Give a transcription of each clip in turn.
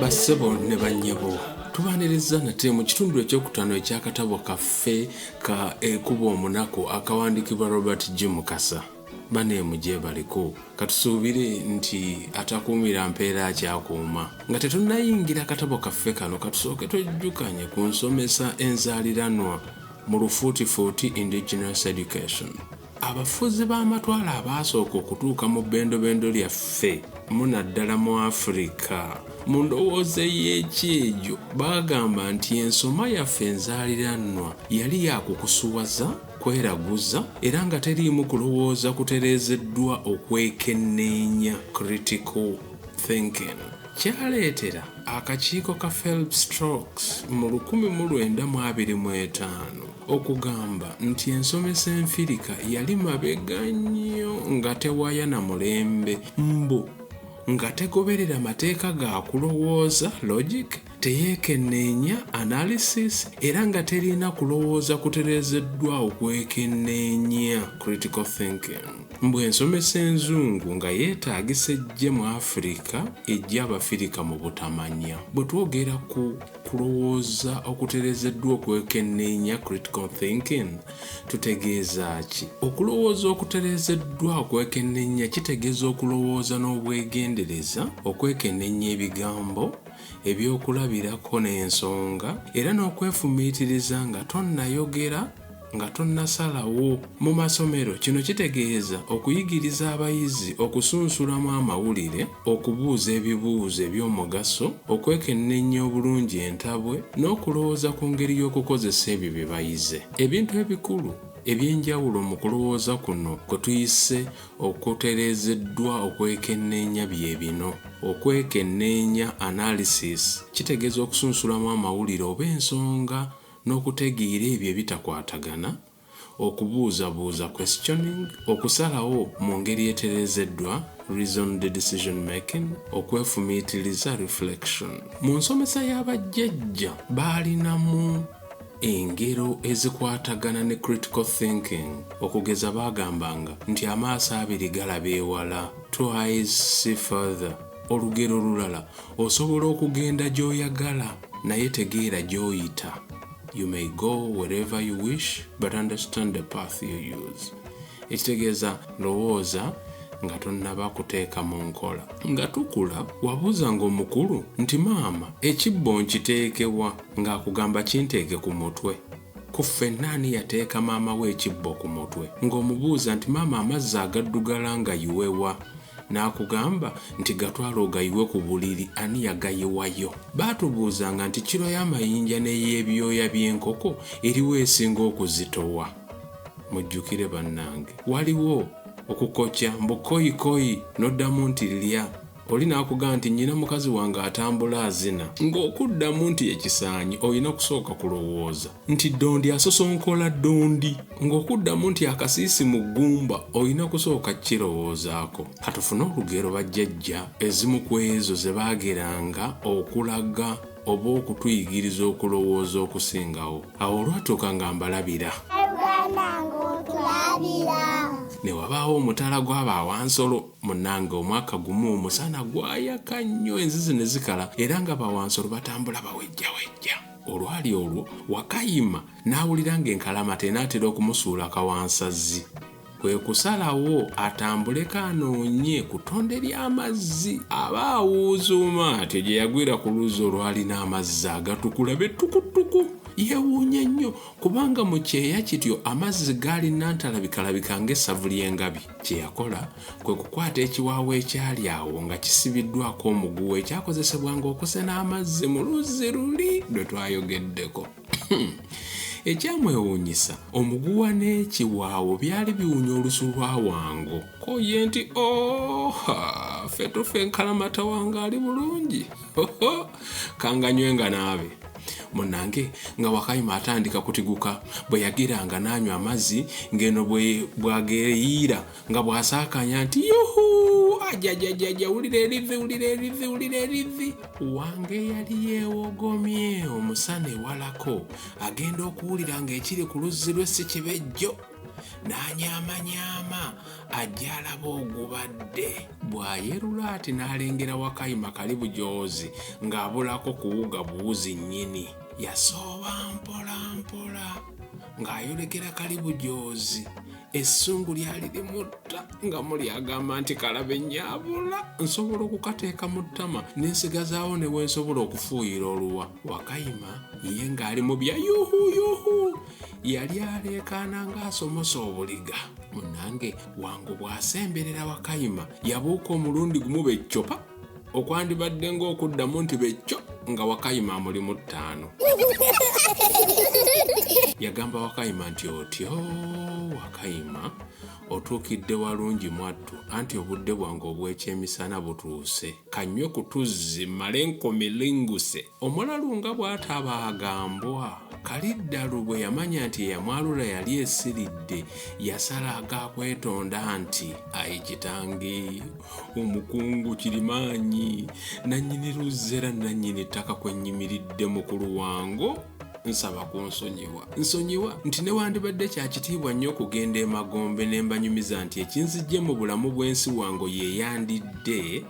bassebo ne bannyabo tubaaniriza nate mu kitundu ekyokutaano eky'akatabo kaffe ka ekuba omunaku akawandiikibwa robert g mukasa Bane mugyebaliko katusuubire nti atakuumira mpeera akyakuuma. Nga tetunnayingira katabo kaffe kano katusooke twejjukanye ku nsomesa enzaaliranwa mu lufuutifuuti indigenous education. Abafuzi b'amatwale abaasooka okutuuka mu bbendobendo lyaffe munaddala mu Afirika mu ndowooza ey'ekyejo baagamba nti ensoma yaffe enzaaliranwa yali yakukusuwaza, kweraguza era nga teriimu kulowooza kutereezeddwa okwekenneenya, critical thinking, kyaleetera akakiiko ka Phelps Strokes mu lukumi mu lwenda mu abiri mu etaano okugamba nti ensomesa enfirika yali mabega nnyo nga tewaya na mulembe mbu nga tegoberera mateeka ga kulowooza, logic, teyeekenneenya analysis era nga terina kulowooza kutereezeddwa okwekenneenya critical thinking mbu ensomesa enzungu nga yeetaagisa ejje mu afirika ejja abafirika mu butamanya bwe twogera ku kulowooza okutereezeddwa okwekenneenya critical thinking tutegeeza ki okulowooza okutereezeddwa okwekenneenya kitegeeza okulowooza n'obwegendereza okwekenneenya ebigambo ebyokulabirako n'ensonga era n'okwefumiitiriza nga tonnayogera nga tonnasalawo mu masomero kino kitegeeza okuyigiriza abayizi okusunsulamu amawulire okubuuza ebibuuzo eby'omugaso okwekenneenya obulungi entabwe n'okulowooza ku ngeri y'okukozesa ebyo bye bayize ebintu ebikulu eby'enjawulo mu kulowooza kuno kwe tuyise Okutereezeddwa okwekenneenya bye bino. Okwekenneenya, analysis, kitegeeza okusunsulamu amawulire oba ensonga n'okutegeera ebyo ebitakwatagana, okubuuzabuuza, questioning, okusalawo mu ngeri etereezeddwa, reasoned decision making, okwefumiitiriza, reflection. Mu nsomesa ya bajjajja baalinamu. engero ezikwatagana ne critical thinking okugeza baagambanga nti amaaso abiri galaba ewala two eyes see further olugero olulala osobola okugenda gy'oyagala naye tegeera gy'oyita you may go wherever you wish but understand the path you use ekitegeeza lowooza nga tonnaba kuteeka mu nkola nga tukula wabuuzanga omukulu nti maama ekibbo nkiteekewa Nga akugamba kinteege ku mutwe. Ku ffenna ani yateeka maama we ekibbo ku mutwe? Nga omubuuza nti maama amazzi agaddugala ngayiwe wa? N'akugamba nti gatwale ogayiwe ku buliri ani yagayiwayo? Baatubuuzanga nti kilo y'amayinja n'ey'ebyoya by'enkoko eriwa esinga okuzitowa? Mujjukire bannange. Waliwo. Okukokya mbu kkoyi kkoyi n'oddamu nti lya. oli n'akugamba nti nnyina mukazi wange atambula azina ng'okuddamu nti ekisaanyi olina kusooka kulowooza nti ddondi asosonkola ddondi ng'okuddamu nti akasiisi mu ggumba olina kusooka kirowoozaako katufune olugero bajjajja ezimu ku ezo ze baageranga okulaga oba okutuyigiriza okulowooza okusingawo awo olwatuuka nga mbalabira ne wabaawo omutala gw'abaawansolo munange omwaka gumu omusana gwayaka nnyo enzizi ne zikala era nga bawansolo batambula bawejjawejja olwali olwo wakayima n'awulira ng'enkalama tenaatera okumusuula kawansazzi kwe kusalawo atambuleko anoonye ku ttonde ly'amazzi aba awuuzuuma atyo gye yagwira ku luzzi olwalina amazzi agatukula bettukutuku yeewuunya nnyo kubanga mu kyeya kityo amazzi gaalina ntalabikalabika ng'essavu ly'engabi Kye yakola kwe kukwata ekiwaawo ekyali awo nga kisibiddwako omuguwa ekyakozesebwanga okusena amazzi mu luzzi luli lwe twayogeddeko. Ekyamwewuunyisa, omuguwa n'ekiwaawo byali biwunya olusu lwa Wango. Ko ye nti, Oha! Ffe tufa enkalamata wange ali bulungi. Kanganywe nga naabe. munange nga wakayima atandika kutiguka bwe yagiranga n'anywa amazzi ng'eno bwageyiira nga bw'asaakanya nti yuhu ajajajaja wulira erivi wulira erivi wulira erivi wange yali yeewogomye omusana ewalako agenda okuwulira ng'ekiri ku luzzi lwe si kibejjo n'anyaamanyama ajja alaba ogubadde bw'ayerula ati n'alengera wakayima kali bujoozi ng'abulako kuwuga buwuzi nnyini yasooba mpola mpola ng'ayolekera kali bujoozi essungu lyali limutta nga muli agamba nti kalabe nyabula nsobola okukateeka mu ttama nensigazaawo ne wensobola okufuuyira oluwa wakayima ye ng'ali mu bya yuhuyuhu yali aleekaana ng'asomosa obuliga munange wangu bw'asemberera wakayima yabuuka omulundi gumu beccopa okwandibadde ng'okuddamu nti becco nga wakayima amuli mu ttaano yagamba wakayima nti otyo wakayima otuukidde walungi mwattu anti obudde bwange obw'ekyemisana butuuse kanywe ku tuzzi male nkomilinguse Omulalu nga bw'atabaaga mbwa, Kaliddalu bwe yamanya nti eyamwalula yali esiridde, yasala aga kwetonda nti, Ayi kitange, Omukungu Kirimaanyi, nnannyini luzzi era nnannyini ttaka kwe nnyimiridde mukulu wango, nsaba kunsonyiwa. Nsonyiwa nti newandibadde kya kitiibwa nnyo okugenda emagombe ne mbanyumiza nti ekinziggye mu bulamu bw'ensi wango ye yandidde,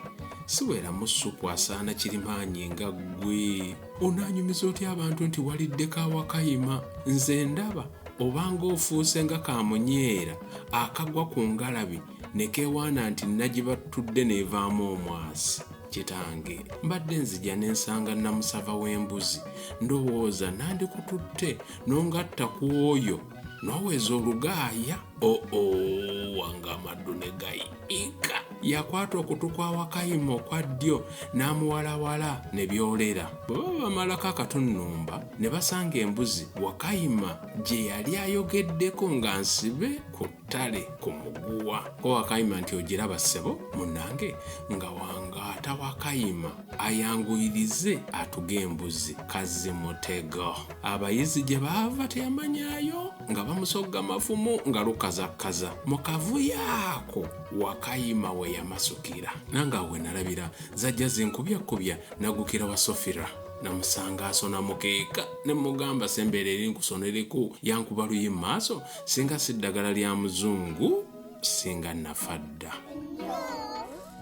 siweramu ssupu asaana kirimaanyi nga ggwe onaanyumiza otya abantu nti waliddeko awakayima nze ndaba obanga ofuuse nga kamunyeera akagwa ku ngalabi ne keewaana nti nagibattudde n'evaamu omwasi kitange mbadde nzija ne nsanga namusava w'embuzi ndowooza nandikututte n'ongatta ku oyo noweza olugaaya oo oh, oh, wange amaddu ne gayiika yakwata okutu kwa wakayima okwa ddyo n'amuwalawala ne byolera bwe baba bamalako akatunnumba ne basanga embuzi wakayima gye yali ayogeddeko nga nsibe ku ttale ku muguwa ko wakayima nti ogiraba ssebo munange nga wangaata wakayima ayanguyirize atuge embuzi kazzi mutego abayizi gye baava teyamanyayo nga bamusogga mafumu nga lukazakkaza mu kavuyo ako wakayima we yamasukira nange awe nalabira zajja zinkubyakubya nagukira wa sofira namusanga asona mukeeka ne mugamba sembeera eri nkusona eriku yankuba luyi mu maaso singa si ddagala lya muzungu singa nafa dda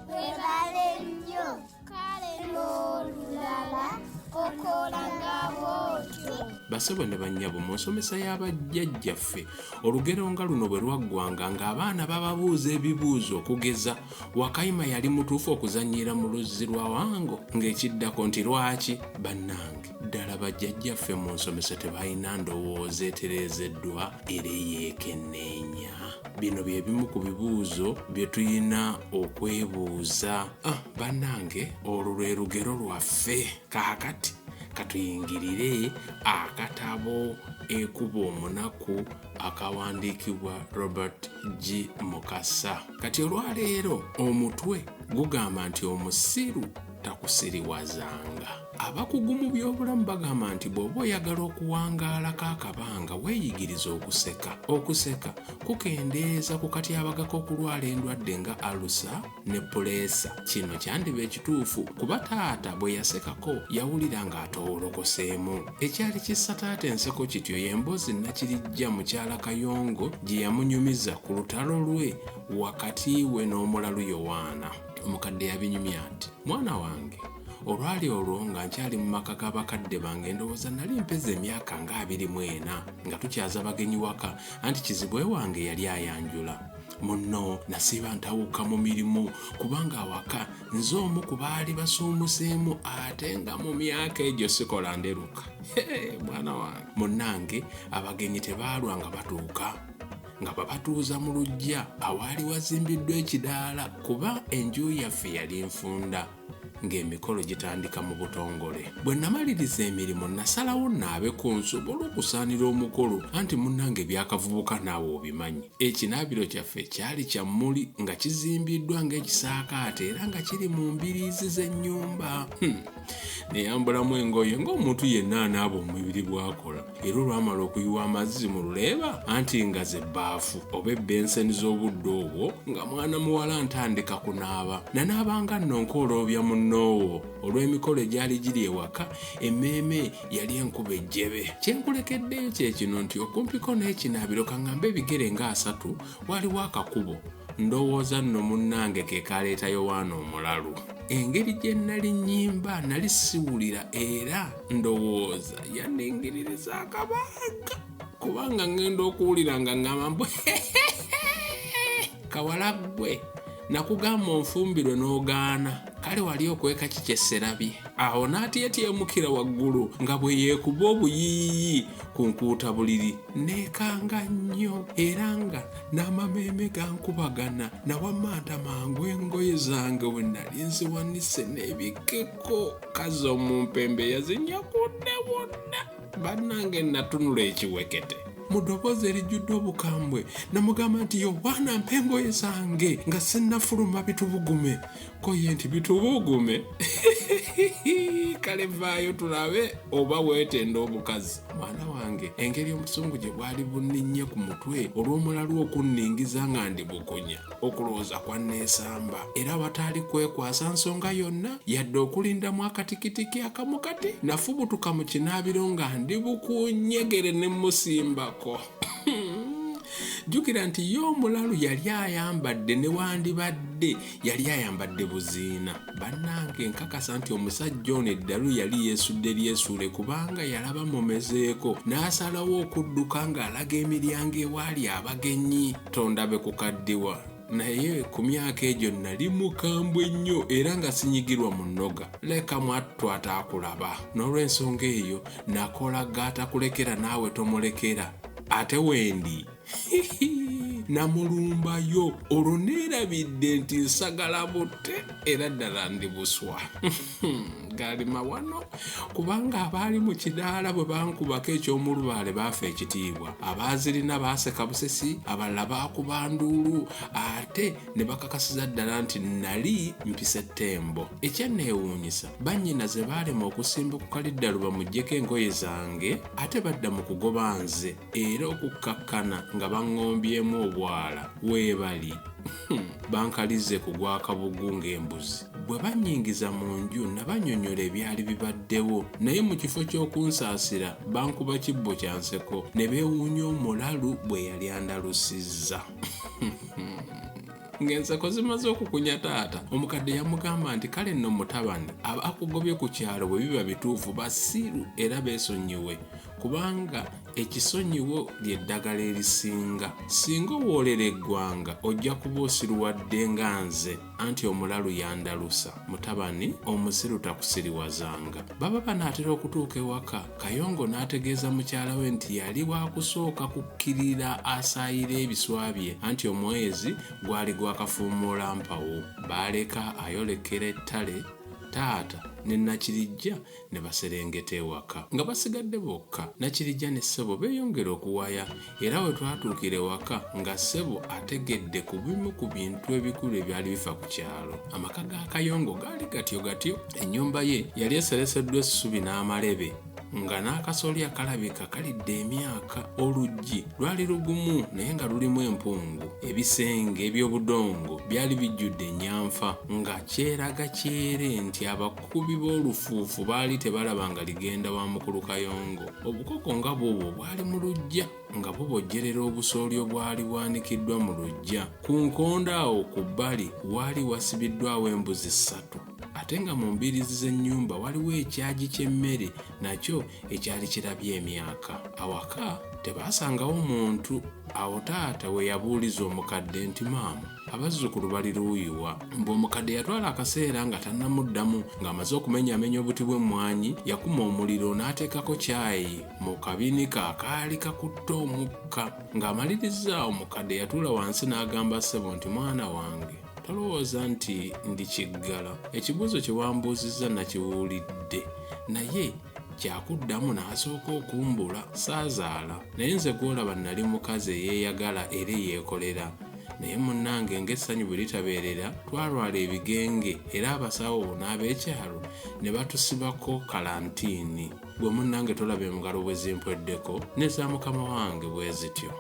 webale nnyo kale n'olulala okola nga bwotyo basebo ne bannyabo mu nsomesa y'abajjajjaffe olugero nga luno bwe lwaggwanga ng'abaana bababuuza ebibuuzo okugeza wakayima yali mutuufu okuzannyira mu luzzi lwa wango ng'ekiddako nti lwaki bannange ddala bajjajjaffe mu nsomesa tebalina ndowooza etereezeddwa era eyeekenneenya bino bye bimu ku bibuuzo bye tulina okwebuuza ah, bannange olwo lwe lugero lwaffe kaakati katuyingirire akatabo ekuba omunaku akawandiikibwa robert g mukasa kati olwaleero omutwe gugamba nti omusiru takusiriwazanga Abakugu mu by'obulamu bagamba nti bw'oba oyagala okuwangaalako akabanga weeyigirize okuseka. Okuseka kukendeeza ku katyabaga k'okulwala endwadde nga alusa ne puleesa. Kino kyandiba ekituufu kuba taata bwe yasekako yawulira ng'atoowolokoseemu. Ekyali kissa taata enseko kityo y'emboozi Nakirijja mukyala Kayongo gye yamunyumiza ku lutalo lwe wakati we n'omulalu Yowaana. Omukadde yabinyumya nti, Mwana wange! olwali olwo nga nkyali mu maka ga bakadde bange endowooza nali mpeza emyaka nga abiri mu ena nga tukyaza bagenyi waka anti kizibwe wange yali ayanjula munno nasiiba ntawuka mu mirimu kubanga awaka nze omu ku baali basuumuseemu ate nga mu myaka egyo sikola nderuka mwana wange munnange abagenyi tebaalwa nga batuuka nga babatuuza mu lujja awaali wazimbiddwa ekidaala kuba enju yaffe yali nfunda ng'emikolo gitandika mu butongole bwe namaliriza emirimu nasalawo naabe ku nsobola okusaanira omukolo anti munnange ebyakavubuka naawe obimanyi ekinaabiro kyaffe kyali kya mmuli nga kizimbiddwa ng'ekisaakaate era nga kiri mu mbiriizi z'ennyumba hmm. neyambulamu engoye ng'omuntu yenna anaaba omubiri bwakola era olwamala okuyiwa amazzi mu luleeba anti nga ze bbaafu oba ebbenseni z'obudde obwo nga mwana muwala ntandika kunaaba nanaabanga nnonka oloobya munnoowo olw'emikolo egyali giri ewaka emmeeme yali enkuba ejjebe kye nkulekeddeyo kye kino nti okumpiko n'ekinaabiro kaŋŋambe ebigere nga asatu waliwo akakubo ndowooza nno munnange ke kaleeta yowaana omulalu engeri gye nnali nnyimba nali siwulira era ndowooza yandingiririza akabanga kubanga ŋŋenda okuwulira nga ŋŋamba mbu kawala ggwe nakugamba onfumbirwe n'ogaana kale wali okweka ki kye sserabye awo n'atyetyemukira waggulu nga bwe yeekuba obuyiiyi ku nkuuta buliri neekanga nnyo era nga n'amameeme gankubagana nawamanta mangu engoye zange we nali nziwanise n'ebikeko kazi omumpembe yazinyakudde wonna bannange natunula ekiwekete mu ddoboozi erijjudde obukambwe namugamba nti yowaana mpa engoye zange nga sinnafuluma bitubugume koye nti bitubuugume kale vaayo tulabe oba weetenda obukazi mwana wange engeri omusungu gye bwali bunninnye ku mutwe olw'omulalu okunningiza nga ndi bukunya okulowooza kwa neesamba era wataali kwekwasa nsonga yonna yadde okulindamu akatikitiki akamu kati nafubutuka mu kinaabiro nga ndi bukunyegere ne musimbako jjukira nti ye omulalu yali ayambadde newandibadde yali ayambadde buziina bannange nkakasa nti omusajja ono eddalu yali yeesudde lyesuule kubanga yalaba mumezeeko n'asalawo okudduka ng'alaga emiryango ewaali abagenyi tondabe ku kaddiwa naye ku myaka egyo nali mukambwe nnyo era nga sinyigirwa mu nnoga leka mwattu ataakulaba n'olw'ensonga eyo nakola gaatakulekera naawe tomulekera ate wendi namulumbayo olwo neerabidde nti nsagala butte era ddala ndi buswa gaali mawano kubanga abaali mu kidaala bwe bankubako eky'omulubaale baafa ekitiibwa abaazirina baaseka busesi abalala baakuba nduulu ate ne bakakasiza ddala nti nali mpisa ettembo ekyanneewuunyisa bannyina ze baalema okusimbukuka liddalu bamugyeko engoye zange ate badda mu kugoba nze era okukkakkana nga baŋŋombyemu obwala weebali hmm, bankalize ku gwakabugu ng'embuzi bwe bannyingiza mu nju nabanyonyola ebyali bibaddewo naye mu kifo ky'okunsaasira bankuba kibbo kya nseko ne beewuunya omulalu bwe yali andalusizza ng'enseko zimaze okukunya taata omukadde yamugamba nti kale nno mutabani abakugobye ku kyalo bwe biba bituufu basiru era beesonyiwe kubanga ekisonyiwo ly'eddagala erisinga singa owoolera eggwanga ojja kuba osiruwadde nga nze anti omulalu yandalusa mutabani omusiru takusiriwazanga baba banaatera okutuuka ewaka kayongo n'ategeeza mukyala we nti yali wakusooka kukkirira asaayira ebiswa bye anti omwezi gwali gwakafuumuula mpawo baaleka ayolekera ettale taata ne nakirijja ne baserengeta ewaka nga basigadde bokka nakirijja ne ssebo beeyongera okuwaya era we twatuukira ewaka nga ssebo ategedde ku bimu ku bintu ebikulu ebyali bifa ku kyalo amaka ga kayongo gaali gatyo gatyo ennyumba ye yali esereseddwa essubi n'amalebe nga n'akasolya kalabika kalidde emyaka oluggi lwali lugumu naye nga lulimu empungu ebisenge eby'obudongo byali bijjudde ennyamfa nga kyeraga kyere nti abak Abakubi b'olufuufu baali tebalaba nga ligenda wa Mukulu Kayongo. Obukoko nga bwobwo bwali mu luggya nga bubojjerera obusooli obwali bwanikiddwa mu luggya. Ku nkondo awo ku bbali waali wasibiddwawo embuzi ssatu ate nga mu mbiriizi z'ennyumba waliwo ekyagi ky'emmere nakyo ekyali kirabye emyaka. Awaka tebaasangawo muntu. Awo taata we yabuuliza omukadde nti, Maama! abazzukulu bali luuyi wa mbu omukadde yatwala akaseera nga tannamuddamu ng'amaze okumenyaamenya obuti bw'emmwanyi yakuma omuliro n'ateekako kyayi mu kabinika akaali kakutte omukka ng'amaliriza omukadde yatuula wansi n'agamba ssebo nti mwana wange tolowooza nti ndi kiggala ekibuuzo kye wambuuzizza nakiwulidde naye kyakuddamu n'asooka okumbula saazaala naye nze gw'olaba nnali mukazi eyeeyagala era eyeekolera naye munnange ng'essanyu bwe litabeerera twalwala ebigenge era abasawo n'ab'ekyalo ne batusibako kalantiini gwe munnange tolaba emugalo bwe zimpweddeko ne za mukama wange bwe zityo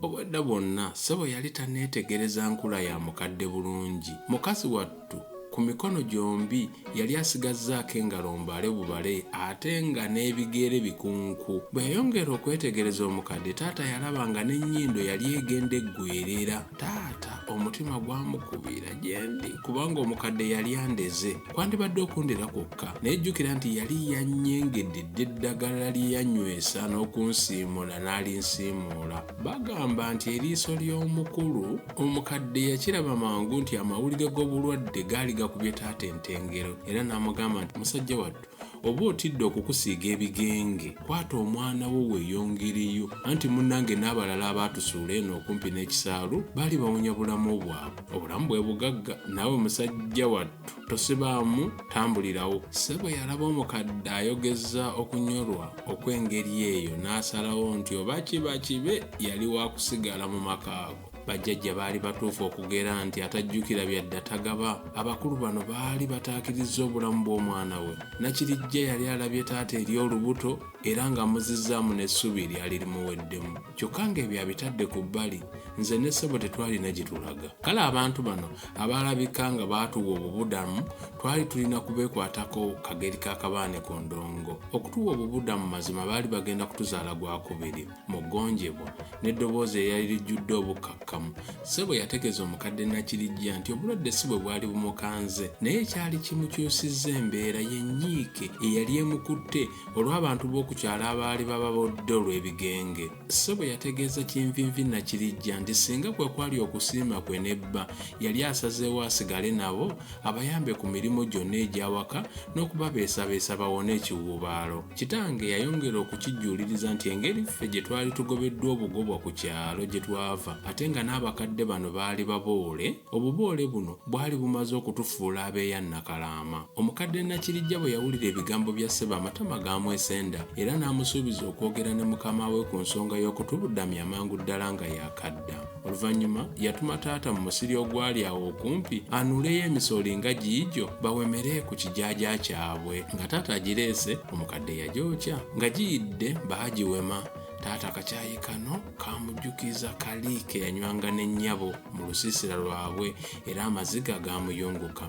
obwedda bwonna ssebo yali taneetegereza nkula ya mukadde bulungi mukazi wa Nnamuttu ku mikono gyombi yali asigazzaako engalo mbale bubale ate nga n'ebigere bikunku. Bwe yayongera okwetegereza omukadde, taata yalaba nga n'ennyindo yali egenda eggweerera. Taata omutima gwamukubira gye ndi kubanga omukadde yali andeze. Kwandibadde okundera kwokka. Naye jjukira nti yali yannyengedde dda eddagala lye yannywesa n'okunsiimuula n'alinsiimuula. Bagamba nti eriiso ly'omukulu omukadde yakiraba mangu nti amawulire g'obulwadde gaali gakubye taata entengero era n'amugamba nti musajja wattu oba otidde okukusiiga ebigenge kwata omwana wo weeyongereyo anti munnange n'abalala abaatusuula eno okumpi n'ekisaalu baali bawunya bulamu bwabwe obulamu bwe bugagga naawe musajja wattu tosibaamu tambulirawo ssebo yalaba omukadde ayogeza okunyolwa okw'engeri eyo n'asalawo nti oba kiba kibe yali wakusigala mu maka ago bajjajja baali batuufu okugera nti atajjukira byadda tagaba abakulu bano baali bataakiriza obulamu bw'omwana we nakirijja yali alabye taata eri olubuto era nga muzizzaamu n'essuubi eryali limuweddemu kyokka ng'ebyo abitadde ku bbali nze ne ssebo tetwalina gye tulaga kale abantu bano abaalabika nga baatuwa obubudamu twali tulina kubeekwatako kageri ka kabaane ku ndongo okutuwa obubudamu mazima baali bagenda kutuzaala gwakubiri mu ggonjebwa n'eddoboozi eryali lijjudde obukkakkamu ssebo yategeeza omukadde nakirijja nti obulwadde si bwe bwali bumukanze naye ekyali kimukyusizza embeera yenyiike eyali emukutte olw'abantu b'oku kyalo abaali bababodde olw'ebigenge. Ssebo yategeeza Kinvinvi Nakirijja nti singa kwe kwali okusiima kwe ne bba, yali asazeewo asigale nabo abayambe ku mirimu gyonna egy'awaka n'okubabeesabeesa bawone ekiwuubaalo. Kitange yayongera okukijjuuliriza nti engeri ffe gye twali tugobeddwa obugobwa ku kyalo gye twava ate nga n'abakadde bano baali baboole, Obuboole buno bwali bumaze okutufuula abeeya Nakalaama. Omukadde Nakirijja bwe yawulira ebigambo bya ssebo amatama gaamwesenda era n'amusuubiza okwogera ne mukama we ku nsonga y'okutubudamya amangu ddala nga yaakadda. Oluvannyuma yatuma taata mu musiri ogwali awo okumpi anuuleyo emisooli nga giigyo bawemere ku kijaaja kyabwe. Nga taata agireese, omukadde yagyokya. Nga giyidde baagiwema. Taata akakyayi kano! kamujjukiza kali ke yanywanga n'ennyabo mu lusiisira lwabwe era amaziga gaamuyunguka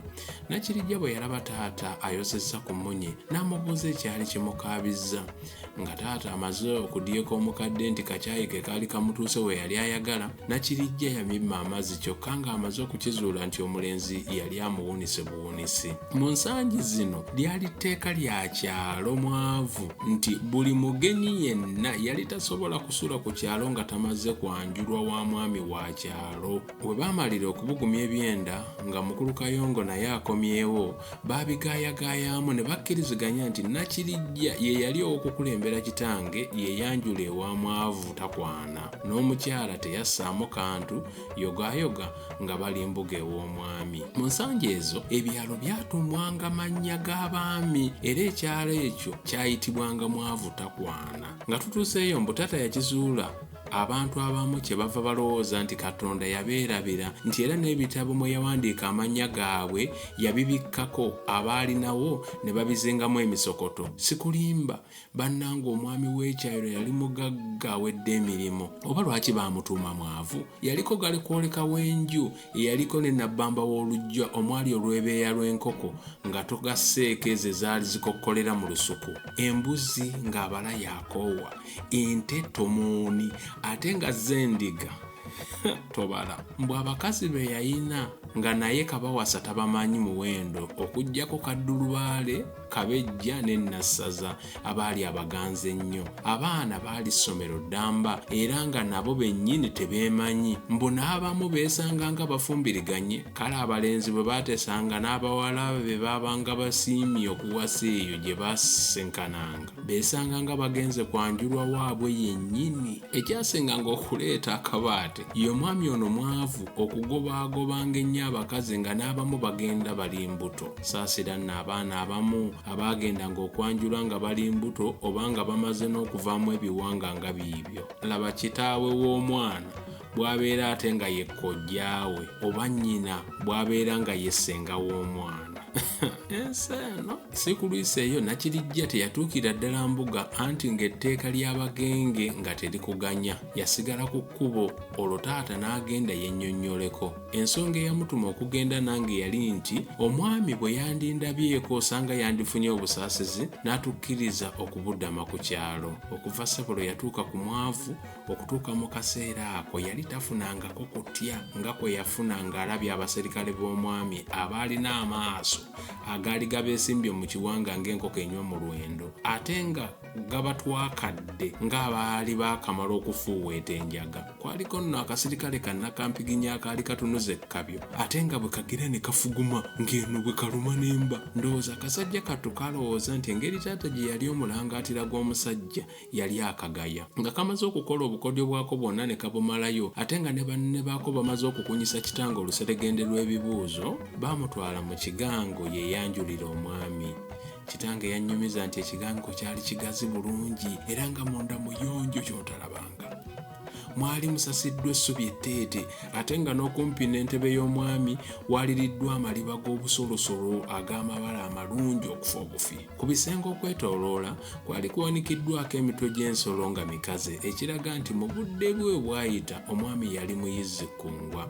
nakirijja bwe yalaba taata ayosezza ku mmunye n'amubuuza ekyali kimukaabizza nga taata amaze okudyeka omukadde nti kakyayi ke kaali kamutuuse we yali ayagala nakirijja yamimma amazzi kyokka ng'amaze okukizuula nti omulenzi yali amuwunise obuwuunisi mu nsangi zino lyali tteeka lya kyalo mwavu nti buli mugenyi yenna yali tasobola kusula ku kyalo nga tamaze kwanjulwa wa mwami wa kyalo we baamalira okubugumya ebyenda nga mukulu kayongo naye akomyewo baabigaayagaayaamu ne bakkiriziganya nti nakirijja ye yali ow'okukulembera kitange yeyanjula ewa mwavu takwana n'omukyala teyassaamu kantu yogaayoga nga bali mbuga ew'omwami mu nsangi ezo ebyalo byatuumwanga mannya g'abaami era ekyalo ekyo kyayitibwanga mwavu takwana nga tutuuseeyo mbu taata yakizuula abantu abamu kye bava balowooza nti katonda yabeerabira nti era n'ebitabo mwe yawandiika amannya gaabwe yabibikkako abaalinawo ne babizingamu emisokoto sikulimba bannanga omwami w'ekyayiro yali mugagga awedde emirimu oba lwaki baamutuuma mwavu yaliko gali kwoleka w'enju eyaliko ne nabbamba w'olujja omwali olwebeeya lw'enkoko nga togasseeko ezo ezaali zikokkolera mu lusuku embuzi ng'abala yakoowa ente tomuuni ate nga z'endiga tobala mbu abakazi be yayina nga naye kabawasa tabamanyi muwendo okugyako kaddulubaale kabejja ne nassaza abaali abaganzi ennyo abaana baali ssomero ddamba era nga nabo bennyini tebeemanyi mbu n'abamu beesanga nga bafumbiriganye kale abalenzi bwe baatesanga n'abawala be baabanga basiimye okuwasa eyo gye baasenkananga beesanga nga bagenze kwanjulwa waabwe yennyini ekyasinganga okuleeta akabaate ye omwami ono mwavu okugobaagobanga ennyo abakazi nga n'abamu bagenda bali mbuto saasira nno abaana abamu abaagendanga okwanjula nga bali mbuto oba nga bamaze n'okuvaamu ebiwanga nga biibyo laba kitaawe w'omwana bw'abeera ate nga ye kkojjaawe oba nnyina bw'abeera nga ye ssenga w'omwana ensi eno si kulwisa eyo nakirijja teyatuukira ddala mbuga anti ng'etteeka ly'abagenge nga terikuganya yasigala ku kkubo olwo taata n'agenda yennyonnyoleko Ensonga eyamutuma okugenda nange yali nti omwami bwe yandindabyeko osanga yandifunye obusaasizi n'atukkiriza okubudama ku kyalo. Okuva ssebo lwe yatuuka ku mwavu okutuuka mu kaseera ako yali tafunangako kutya nga kwe yafuna ng'alabye abaserikale b'omwami abaalina amaaso agaali gabeesimbye mu kiwanga ng'enkoko enywa mu lwendo ate nga gabatwakadde ng'abaali baakamala okufuuweeta enjaga kwaliko nno akasirikale kannakampiginy akaali katunuza ekkabyo ate nga bwe kagira ne kafuguma ng'eno bwe kaluma n'emba ndowooza akasajja kattu kalowooza nti engeri taata gye yali omulangaatira gw'omusajja yali akagaya nga kamaze okukola obukodyo bwako bwonna ne kabumalayo ate nga ne banne baako bamaze okukunyisa kitanga oluseregende lw'ebibuuzo baamutwala mu kigango yeeyanjulira omwami kitange yannyumiza nti ekigangiko kyali kigazi bulungi era nga munda muyonjo kyotalabanga mwali musasiddwa essubi etteete ate nga n'okumpi n'entebe y'omwami waliriddwa amaliba g'obusolosolo ag'amabala amalungi okufa obufi ku bisenge okwetooloola kwali kuwanikiddwako emitwe gy'ensolo nga mikaze ekiraga nti mu budde bwe bwayita omwami yali muyizzi kkungwa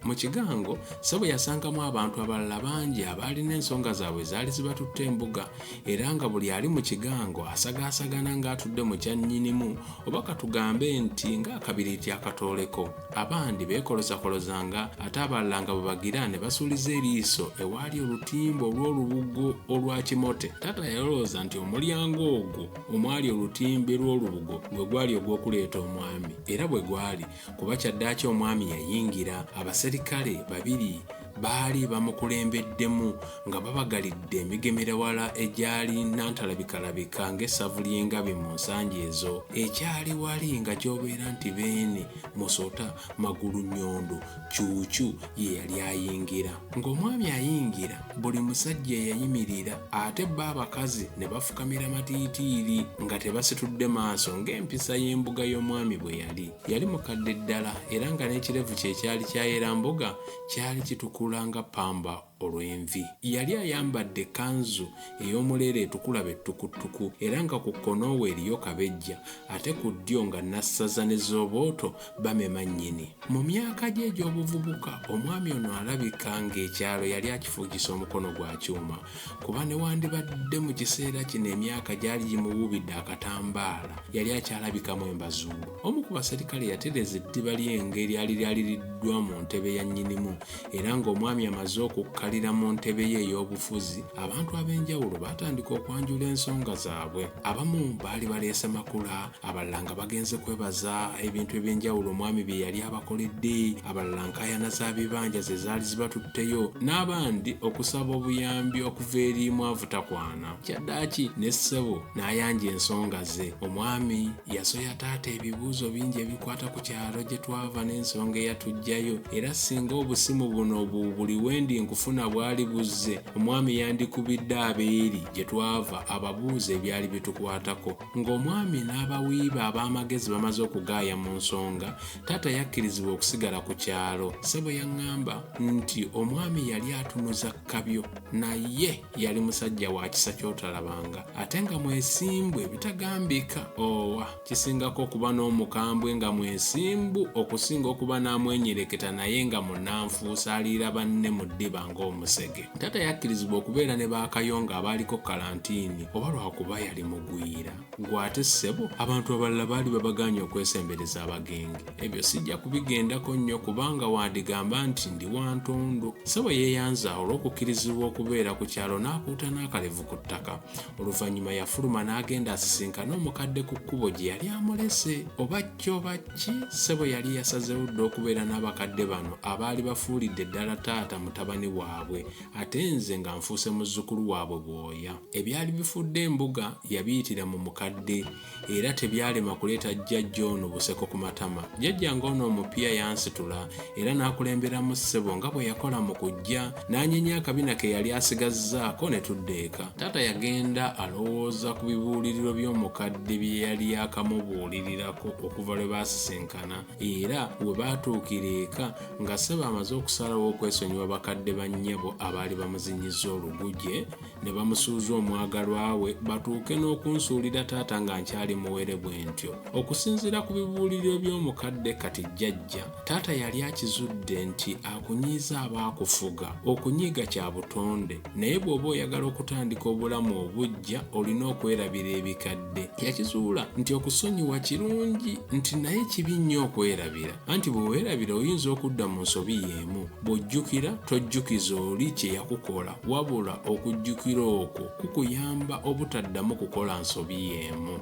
Mu kigango, Ssebo yasangamu abantu abalala bangi abaalina ensonga zaabwe ezaali zibatutte embuga era nga buli ali mu kigango asagaasagana ng'atudde mu kya nnyinimu oba katugambe nti ng'akabiriiti akatooleko. Abandi beekolozakolozanga ate abalala nga bwe bagira ne basuuliza eriiso ewaali olutimbe olw'olubugo olwa kimote. Taata yalowooza nti omulyango ogwo omwali olutimbe lw'olubugo gwe gwali ogw'okuleeta omwami. Era bwe gwali. kuba kyaddaaki omwami yayingira abaserikale babiri baali bamukulembeddemu nga babagalidde emigemerawala egyali nantalabikalabika ng'essavu ly'engabi mu nsangi ezo ekyali wali nga kyobeera nti beene musota magulu nyondo kyukyu ye yali ayingira ng'omwami ayingira buli musajja eyayimirira ate bo abakazi ne bafukamira matiitiiri nga tebasitudde maaso ng'empisa y'embuga y'omwami bwe yali yali mukadde ddala era nga n'ekirevu kye kyali kyayera mbuga kyali kitukula nga ppamba olw'envi yali ayambadde kanzu ey'omuleera etukula bettukuttuku era nga ku kkonoowe eriyo kabejja ate ku ddyo nga nassaza ne zobooto bamema nnyini. Mu myaka gye egy'obuvubuka, omwami ono alabika ng'ekyalo yali akifuugisa omukono gwa kyuma kuba newandibadde mu kiseera kino emyaka gyali gimuwuubidde akatambaala yali akyalabikamu embazuulu. Omu ku baserikale yatereza eddiba ly'enge eryali lyaliriddwa mu ntebe ya nnyinimu era ng'omwami amaze okukkalira mu ntebe ye ey'obufuzi, abantu ab'enjawulo baatandika okwanjula ensonga zaabwe. Abamu baali baleese makula, abalala nga bagenze kwebaza ebintu ebyenjawulo omwami bye yali abakoledde abalala nkayana za bibanja ze zaali zibatutteyo n'abandi okusaba obuyambi okuva eri mwavutakwana kyaddaaki ne ssebo n'ayanja ensonga ze omwami yasoya taata ebibuuzo bingi ebikwata ku kyalo gye twava n'ensonga eyatujjayo era singa obusimu buno bu buli wendi nkufuna bwali buzze omwami yandikubidde abeeri gye twava ababuuza ebyali bitukwatako Ng'omwami n'abawi be ab'amagezi bamaze okugaaya mu nsonga, taata yakkirizibwa okusigala ku kyalo. Ssebo yaŋŋamba nti omwami yali atunuza kkabyo, naye yali musajja wa kisa ky'otalabanga, ate nga mwesimbu ebitagambika. Owa! Kisingako okuba n'omukambwe nga mwesimbu okusinga okuba n'amwenyereketa naye nga munnanfuusi aliira banne mu ddiba ng'omusege. Taata yakkirizibwa okubeera ne ba Kayonga abaaliko kalantiini oba lwakuba yali mugwira. Gwe ate ssebo abantu abalala baali babagaanye okwesembereza abagenge. Ebyo sijja kubigendako nnyo kubanga wandigamba nti ndi wa ntondo. Ssebo yeeyanza olw'okukkirizibwa okubeera ku kyalo n'akuuta n'akalevu ku ttaka. Oluvannyuma yafuluma n'agenda asisinkane omukadde ku kkubo gye yali amulese oba kyo oba Ki ssebo yali yasazeewo dda okubeera n'abakadde bano abaali bafuulidde ddala taata mutabani waabwe ate nze nga nfuuse muzzukulu waabwe bwoya. Ebyali bifudde embuga yabiyitira mu mukadde era tebyalema kuleeta jjajja ono buseko ku matama. Jjajja ng'ono omupya yansitula era n'akulemberamu ssebo nga bwe yakola mu kujja n'anyenya akabina ke yali asigazzaako ne tudda eka taata yagenda alowooza ku bibuuliriro by'omukadde bye yali yakamubuulirirako okuva lwe baasisinkana era we baatuukira eka nga saba amaze okusalawo okwesonyiwa bakadde ba nnyabo abaali bamuzinyizza oluguje ne bamusuuza omwagalwa we batuuke n'okunsuulira taata nga nkyali muwere bwe ntyo okusinziira ku bibuuliriro by'omukadde kati jjajja Taata yali akizudde nti akunyiiza aba akufuga. Okunyiiga kya butonde, naye bw'oba oyagala okutandika obulamu obuggya olina okwerabira ebikadde. Yakizuula nti okusonyiwa kirungi nti naye kibi nnyo okwerabira anti bwe weerabira oyinza okudda mu nsobi y'emu. Bw'ojjukira tojjukiza oli kye yakukola wabula okujjukira okwo kukuyamba obutaddamu kukola nsobi y'emu.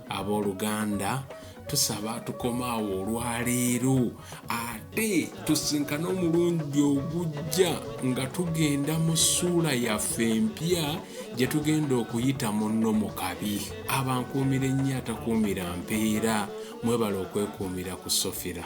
Abooluganda tusaba tukomaawo olwaleero ate tusinkane omulundi ogujja nga tugenda mu ssuula yaffe empya gye tugenda okuyita munno mu kabi abankuumira ennyo atakuumira mpeera mwebale okwekuumira ku sofira